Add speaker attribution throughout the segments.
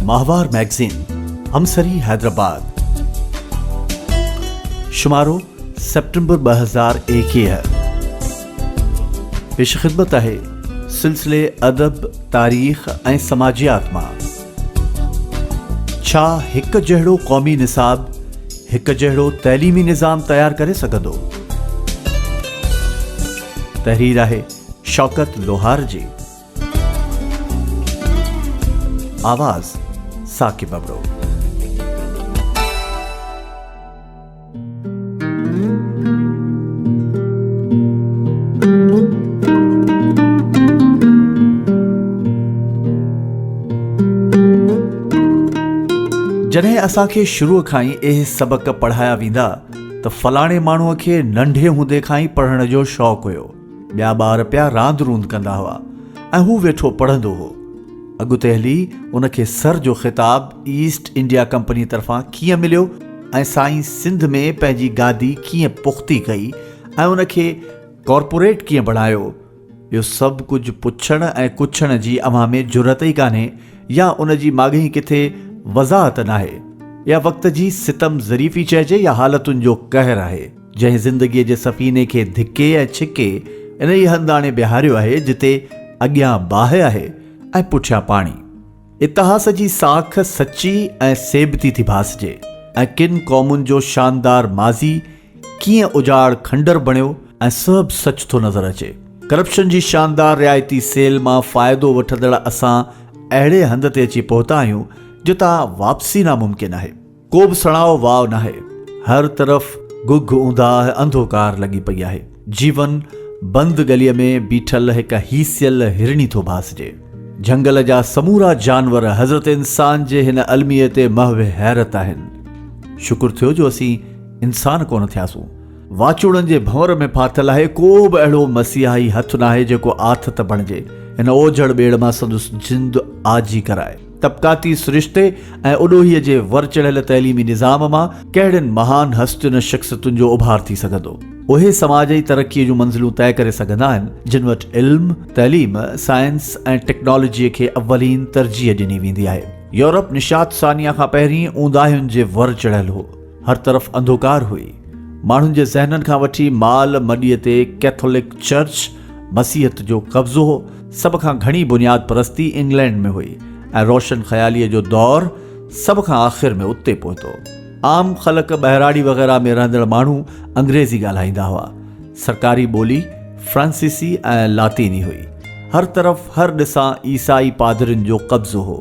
Speaker 1: ماهوار مئگزين همسري حيدرآباد شمارو سيپٽمبر ٻه هزار ايڪيهه پيش خدمت آهي سلسلي ادب تاريخ ۽ سماجيات مان ڇا هڪ جهڙو قومي نصاب هڪ جهڙو تعليمي نظام تيار ڪري سگهندو تحرير آهي شوڪت لوهار جي آواز، ثاقب ابڙو. جڏهن اسان کي شروع کان ئي اهي سبق پڙهايا ويندا ته فلاڻي ماڻهوء کي ننڍي هوندي کان ئي پڙهڻ جو شوق هيو. ٻيا ٻار پيا راند روند ڪندا هئا ۽ هو ويٺو پڙهندو هو. اڳتي هلي ان کي سر جو خطاب ايسٽ انڊيا ڪمپنيء طرفان ڪيئن مليو ۽ سائين سنڌ ۾ پنهنجي گادي ڪيئن پختي ڪئي ۽ ان کي ڪارپوريٽ ڪيئن بڻايو، اهو سڀ ڪجهه پڇڻ ۽ ڪڇڻ جي اوهان ۾ جرئت ئي ڪانهي يا ان جي ماڳهين ڪٿي وضاحت ناهي يا وقت جي ستم ظريفي چئجي يا حالتن جو قهر آهي. جنهن زندگيء جي سفيني کي ڌڪي ۽ ڇڪي انهيء هنڌ آڻي بيهاريو آهي، جتي اڳيان باهه آهي ۽ پٺيان پاڻي. اتهاس جي ساک سچي ۽ سيبتي ٿي ڀاسجي ۽ ڪن قومن جو شاندار ماضي ڪيئن اجاڙ کنڊر بڻيو ۽ سهب سچ ٿو نظر اچي. ڪرپشن جي شاندار رعايتي سيل مان فائدو وٺندڙ اسان اهڙي هنڌ تي اچي پهتا آهيون، جتان واپسي ناممڪن آهي. ڪو به سڻائو واء ناهي. هر طرف گگهه اونداهه انڌوڪار لڳي پئي آهي. جيون بند ڳليء ۾ بيٺل هڪ هيسيل هرڻي ٿو ڀاسجي. جهنگل جا سمورا جانور حضرت انسان جي هن الميي تي محو حيرت آهن. شڪر ٿيو جو اسين انسان ڪونه ٿياسون. واچوڙن جي ڀنور ۾ ڦاٿل آهي. ڪو به اهڙو مسيحائي هٿ ناهي جيڪو آٿت بڻجي هن اوجهڙ ٻيڙ مان سندس جند آجي ڪرائي. طبقاتي سرشتي ۽ اڏوهي جي ور چڙهيل تعليمي نظام مان ڪهڙين مهان هستين ۽ شخصيتن جو اڀار ٿي سگهندو؟ اهي سماجي ترقيء جون منزلون طئي ڪري سگهندا آهن، جن وٽ علم، تعليم، سائنس ۽ ٽيڪنالاجيء کي اولين ترجيح ڏني ويندي آهي. يورپ نشاة ثانيه کان پهرين اونداهين جي ور چڙهيل هو. هر طرف انڌوڪار هئي. ماڻهن جي ذهنن کان وٺي مال مڏيء تي ڪيٿولڪ چرچ، مسيحت، جو قبضو هو. سڀ کان گهڻي بنياد پرستي انگلينڊ ۾ هئي ۽ روشن خياليء جو دور سڀ کان آخر ۾ اتي پهتو. عام خلق، ٻهراڙي وغيره ۾ رهندڙ ماڻهو انگريزي ڳالهائيندا هئا. سرڪاري ٻولي فرانسيسي ۽ لاطيني هئي. هر طرف هر ڏسان عيسائي پادرين جو قبضو هو.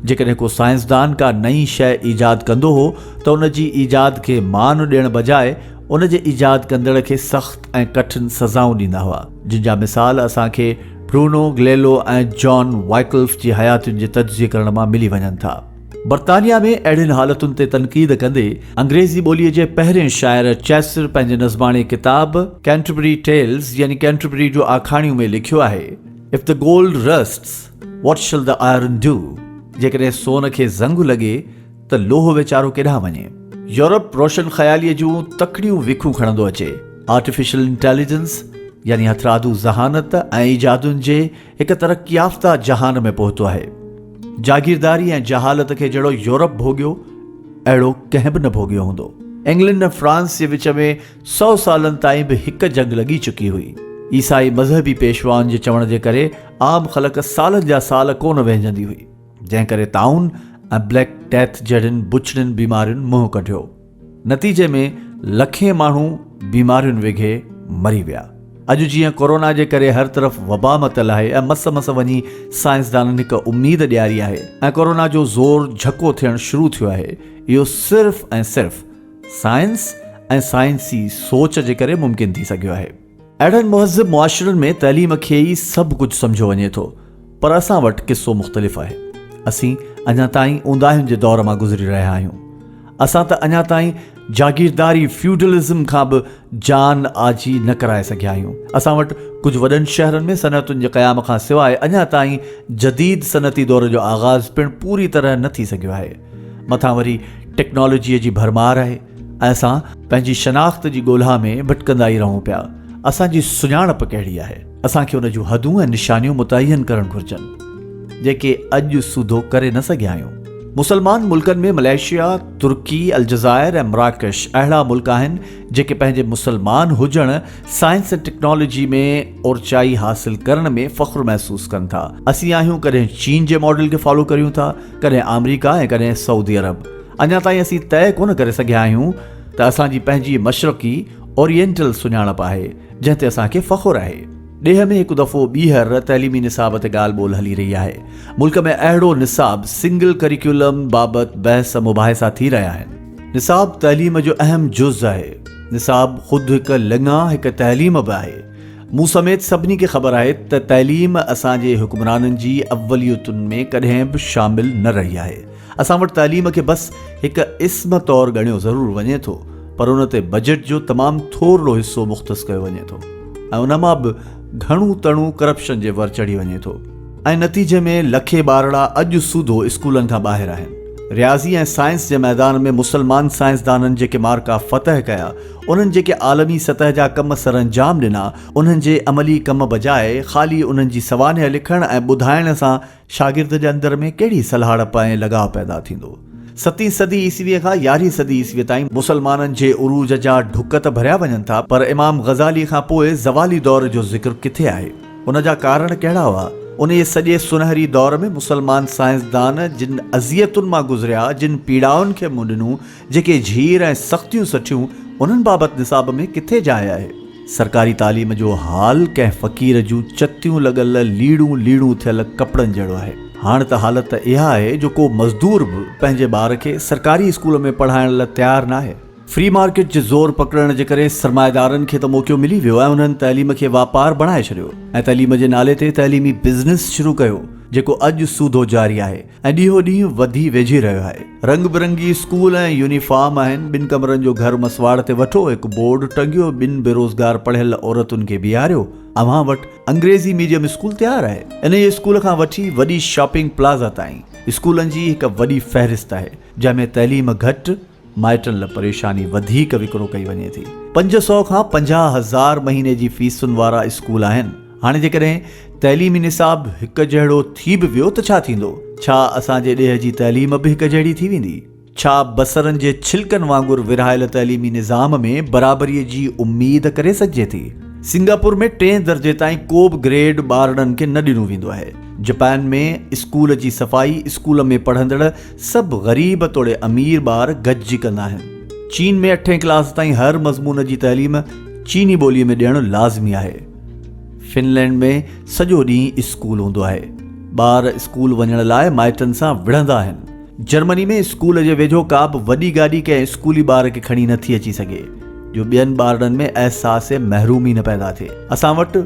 Speaker 1: جيڪڏهن ڪو سائنسدان ڪا نئين شيء ايجاد ڪندو هو ته ان جي ايجاد کي مان ڏيڻ بجاء ان جي ايجاد ڪندڙ کي سخت ۽ ڪٺن سزائون ڏيندا هئا جن جا مثال اسان کي برونو گليلو ۽ جان وائڪلف جي حياتين جي تجزيي ڪرڻ مان ملي وڃن ٿا. برطانيا ۾ اهڙين حالتن تي تنقيد ڪندي انگريزي ٻوليء جي پهرين شاعر چيسر پنهنجي نظماڻي ڪتاب Canterbury Tales يعني ڪينٽربري جون آکاڻيون ۾ لکيو آهي If the gold rusts What shall the iron do؟ جيڪڏهن سون کي زنگ لڳي ته لوهه ويچارو ڪيڏانهن وڃي؟ يورپ روشن خياليء جون تڪڙيون ويکون کڻندو اچي. آرٽيفيشل انٽيليجنس يعني هٿرادو ذهانت ۽ ايجادن جي هڪ ترقي يافته جهان ۾ پهتو آهي. جاگيرداري ۽ جهالت کي جهڙو يورپ ڀوڳيو، اهڙو ڪنهن به نه ڀوڳيو هوندو. انگلنڊ ۽ فرانس جي وچ ۾ سؤ سالن تائين به هڪ جنگ لڳي چڪي هئي. عيسائي مذهبي پيشوائن جي چوڻ جي ڪري عام خلق سالن جا سال ڪونه وهنجندي هئي، جنهن ڪري طاعون ۽ بليڪ ڊيٿ جهڙين بڇڙين بيمارين منهن ڪڍيو. نتيجي ۾ لکين ماڻهو بيمارين وگهي مري ويا. اڄ جيئن ڪورونا جي ڪري هر طرف وبا متل آهي ۽ مس مس وڃي سائنسدانن هڪ اميد ڏياري آهي ۽ ڪورونا جو زور جهڪو ٿيڻ شروع ٿيو آهي، اهو صرف ۽ صرف سائنس ۽ سائنسي سوچ جي ڪري ممڪن ٿي سگهيو آهي. اهڙن مهذب معاشرن ۾ تعليم کي ئي سڀ ڪجهه سمجهيو وڃي ٿو، پر اسان وٽ قصو مختلف آهي. اسين اڃا تائين اونداهين جي دور مان گذري رهيا آهيون. اسان ته اڃا تائين جاگيرداري، Feudalism، کان به جان آجي نه ڪرائي سگهيا آهيون. اسان وٽ ڪجهه وڏن شهرن ۾ صنعتن جي قيام کان سواء اڃا تائين جديد صنعتي دور جو آغاز پڻ پوري طرح نه ٿي سگهيو آهي. مٿان وري ٽيڪنالاجيء جي ڀرمار آهي ۽ اسان پنهنجي شناخت جي ڳولها ۾ ڀٽڪندا ئي رهون پيا. اسان جي سڃاڻپ ڪهڙي آهي؟ اسان کي ان جون حدون ۽ نشانيون متعين ڪرڻ گهرجن، جيڪي اڄ سوڌو ڪري نه سگهيا آهيون. مسلمان ملڪن ۾ ملائيشيا، ترڪي، الجزائر ۽ مراڪش اهڙا ملڪ آهن، جيڪي پنهنجي مسلمان هجڻ، سائنس ۽ ٽيڪنالاجي ۾ اورچائي حاصل ڪرڻ ۾ فخر محسوس ڪن ٿا. اسين آهيون ڪڏهن چين جي ماڊل کي فالو ڪريون ٿا، ڪڏهن آمريڪا ۽ ڪڏهن سعودي عرب. اڃا تائين اسين طئي ڪونه ڪري سگهيا آهيون ته اسان جي پنهنجي مشرقي، Oriental، سڃاڻپ آهي، جنهن تي اسان کي فخر آهي. ڏيهه ۾ هڪ دفعو ٻيهر تعليمي نصاب تي ڳالهه ٻولهه هلي رهي آهي. ملڪ ۾ اهڙو نصاب، سنگل ڪريڪيولم، بابت بحث مباحثا ٿي رهيا آهن. نصاب تعليم جو اهم جز آهي. نصاب خود هڪ لڱا، هڪ تعليم به آهي. مون سميت سڀني کي خبر آهي ته تعليم اسان جي حڪمرانن جي اوليتن ۾ ڪڏهن به شامل نه رهي آهي. اسان وٽ تعليم کي بس هڪ اسم طور ڳڻيو ضرور وڃي ٿو پر ان تي بجيٽ جو تمام ٿورڙو حصو مختص ڪيو وڃي ٿو ۽ ان مان به گهڻو تڻو ڪرپشن جي ور چڙهي وڃي ٿو ۽ نتيجي ۾ لکين ٻارڙا اڄ سوڌو اسڪولن کان ٻاهر آهن. رياضي ۽ سائنس جي ميدان ۾ مسلمان سائنسدانن جيڪي مارڪا فتح ڪيا انهن جيڪي عالمي سطح جا ڪم سرانجام ڏنا، انهن جي عملي ڪم بجاء خالي انهن جي سوانح لکڻ ۽ ٻڌائڻ سان شاگرد جي اندر ۾ ڪهڙي سلهاڙپ ۽ لڳاء پيدا ٿيندو؟ ستين صدي عيسويء کان يارهين صدي عيسويء تائين مسلمانن جي عروج جا ڍڪ ته ڀريا وڃن ٿا، پر امام غزاليء کان پوء زوالي دور جو ذڪر ڪٿي آهي؟ ان جا ڪارڻ ڪهڙا هئا؟ انهيء سڄي سنهري دور ۾ مسلمان سائنسدان جن اذيتن مان گذريا، جن پيڙائن کي منهن ڏنو، جيڪي جھير ۽ سختيون سٺيون انھن بابت نصاب ۾ ڪٿي جاء آھي؟ سرڪاري تعليم جو حال ڪنھن فقير جون چتيون لڳل ليڙون ليڙون ٿيل ڪپڙن جھڙو آھي. ھاڻ ته حالت اھا آھي جو ڪو مزدور به پنھنجي ٻار کي سرڪاري اسڪول ۾ پڙھائڻ لاء تيار ناھي. فري مارڪيٽ جي زور پڪڙڻ جي ڪري سرمائيدارن کي ته موقعو ملي ويو ۽ انھن تعليم کي واپار بڻائي ڇڏيو ۽ تعليم جي نالي تي تعليمي بزنس شروع ڪيو جيڪو اڄ سوڌو جاري آھي. ۽ ڏيهو ڏينهن وڌي ويجهي رهيو آهي. رنگ برنگي اسڪول ۽ يونيفارم آهن، ٻن ڪمرن جو گهر مسواڙ تي وٺو، هڪ بورڊ ٽنگيو، ٻن بيروزگار پڙهيل عورتن کي بيهاريو، اوهان وٽ انگريزي ميڊيم اسڪول تيار آهي. انهيء اسڪول کان وٺي وڏي شاپنگ پلازا تائين اسڪولن جي هڪ وڏي فهرست آهي، جنهن ۾ تعليم گهٽ، مائٽن لاء پريشاني وڌيڪ وڪرو ڪئي وڃي ٿي. پنج سؤ کان پنجاهه هزار مهيني جي فيسن وارا اسڪول آهن. هاڻي جيڪڏهن تعليمي نصاب هڪ جهڙو ٿي به ويو ته ڇا ٿيندو؟ ڇا اسان جي ڏيهه جي تعليم به هڪ جهڙي ٿي ويندي؟ ڇا بصرن جي ڇلڪن وانگر ورهايل تعليمي نظام ۾ برابري جي اميد ڪري سگهجي ٿي؟ سنگاپور ۾ ٽئين درجي تائين ڪو به گريڊ ٻارڙن کي نه ڏنو ويندو آهي. جپان ۾ اسڪول جي صفائي، اسڪول ۾ پڙهندڙ، سڀ غريب توڙي امير ٻار گڏجي ڪندا آهن. چين ۾ اٺين ڪلاس تائين هر مضمون جي تعليم چيني ٻوليء ۾ ڏيڻ لازمي آهي. فنلينڊ ۾ سڄو ڏينهن اسڪول هوندو آهي. ٻار اسڪول وڃڻ لاء مائٽن سان وڙهندا آهن. جرمني ۾ اسڪول جي ويجهو ڪابه وڏي گاڏي ڪنهن اسڪولي ٻار کي کڻي نٿي اچي سگهي، جو ٻين ٻارڙن ۾ احساس محرومي نه پيدا ٿئي. اسان وٽ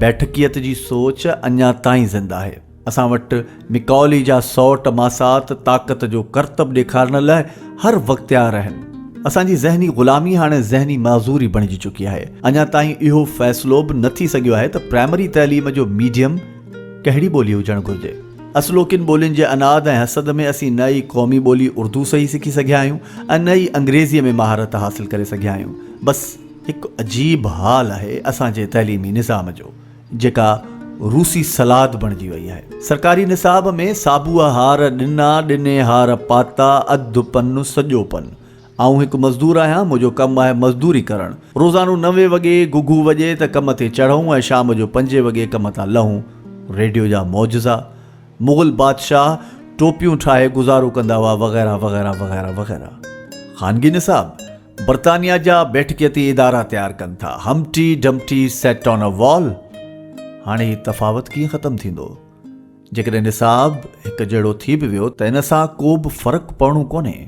Speaker 1: بيٺڪيت جي سوچ اڃا تائين زنده آهي. اسان وٽ مڪاولي جا سئوٽ ماسات طاقت جو ڪرتب ڏيکارڻ لاء هر وقتيار آهن. اسان جي ذهني غلامي هاڻي ذهني معذوري بڻجي چڪي آهي. اڃا تائين اهو فيصلو به نه ٿي سگهيو آهي ته پرائمري تعليم جو ميڊيم ڪهڙي ٻولي هجڻ گهرجي. اصلوڪين ٻولين جي عناد ۽ حسد ۾ اسين نه ئي قومي ٻولي اردو صحيح سکي سگهيا آهيون ۽ نه ئي انگريزيء ۾ مهارت حاصل ڪري سگهيا آهيون. بس هڪ عجيب حال آهي اسان جي تعليمي نظام جو. جيڪا روسي سلاد بڻجي وئي آهي. سرڪاري نصاب ۾ سابوء هار ڏنا، ڏني هار پاتا، اڌ پن سڄو پن. آئون هڪ مزدور آهيان، منهنجو ڪم آهي مزدوري ڪرڻ. روزانو نوي وڳي گهگهو وڄي ته ڪم تي چڙهون ۽ شام جو پنجين وڳي ڪم تان لهون. ريڊيو جا معجزا، مغل بادشاهه ٽوپيون ٺاهي گذارو ڪندا هئا وغيره وغيره وغيره وغيره. خانگي نصاب؟ برطانيا جا بيٺڪيتي ادارا تيار ڪن ٿا، همٽي ڊمٽي سيٽ آن ا وال. هاڻي هي تفاوت ڪيئن ختم ٿيندو؟ جيڪڏهن نصاب هڪ جهڙو ٿي به ويو ته ان سان ڪوبه فرق پوڻو ڪونهي.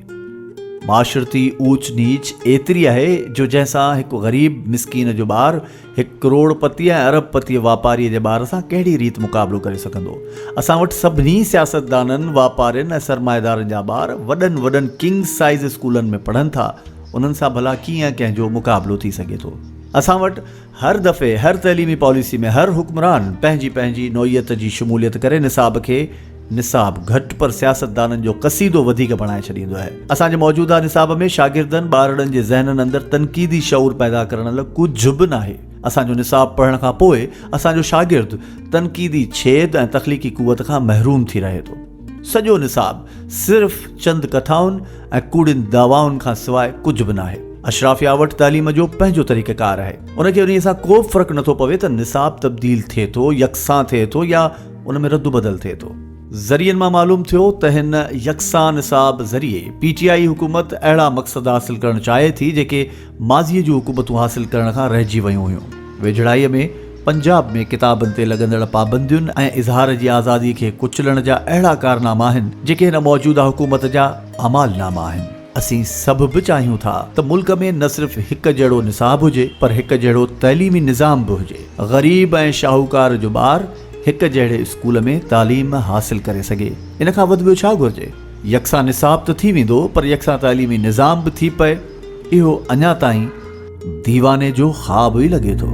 Speaker 1: معاشرتي اوچ نيچ ايتري آهي جو جنهن سان هڪ غريب مسڪين جو ٻار هڪ ڪروڙ پتي ۽ ارب پتي واپاريء جي ٻار سان ڪهڙي ريت مقابلو ڪري سگهندو؟ اسان وٽ سڀني سياستدانن، واپارين ۽ سرمائيدارن جا ٻار وڏن وڏن ڪنگ سائيز اسڪولن ۾ پڙهن ٿا، انهن سان ڀلا ڪيئن ڪنهن جو مقابلو ٿي سگهي ٿو؟ اسان وٽ هر دفعي هر تعليمي پاليسي ۾ هر حڪمران پنهنجي پنهنجي نوعيت جي شموليت ڪري نصاب کي نصاب گهٽ پر سياستدانن جو قصيدو وڌيڪ بڻائي ڇڏيندو آهي. اسان جي موجوده نصاب ۾ شاگردن، ٻارڙن، جي ذهنن اندر تنقيدي شعور پيدا ڪرڻ لاء ڪجهه به ناهي. اسان جو نصاب پڙهڻ کان پوء اسان جو شاگرد تنقيدي ڇيد ۽ تخليقي قوت کان محروم ٿي رهي ٿو. سڄو نصاب صرف چند ڪٿائن ۽ ڪوڙين دعوائن کان سواء ڪجهه به ناهي. اشرافيا وٽ تعليم جو پنهنجو طريقه ڪار آهي. ان کي انهيء سان ڪوبه فرق نٿو پوي ته نصاب تبديل ٿئي ٿو، يڪسان ٿئي ٿو يا. ان ۾ رد بدل ٿئي ٿو. ذريعن مان معلوم ٿيو ته هن يڪسان نصاب ذريعي پي ٽي آئي حڪومت اهڙا مقصد حاصل ڪرڻ چاهي ٿي جيڪي ماضي جون حڪومتون حاصل ڪرڻ کان رهجي ويون هيون. ويجهڙائي ۾ پنجاب ۾ ڪتابن تي لڳندڙ پابندين ۽ اظهار جي آزادي کي ڪچلڻ جا اهڙا ڪارناما آهن جيڪي هن موجوده حڪومت جا اعمال ناما آهن. اسين سڀ به چاهيون ٿا ته ملڪ ۾ نه صرف هڪ جهڙو نصاب هجي پر هڪ جهڙو تعليمي نظام به هجي. غريب ۽ شاهوڪار جو ٻار. هڪ جهڙي اسڪول ۾ تعليم حاصل ڪري سگهي ان کان وڌ ٻيو ڇا گهرجي؟ يڪسان نصاب ته ٿي ويندو پر يڪسان تعليمي نظام به ٿي پئي اهو اڃا تائين ديواني جو خواب ئي لڳي ٿو.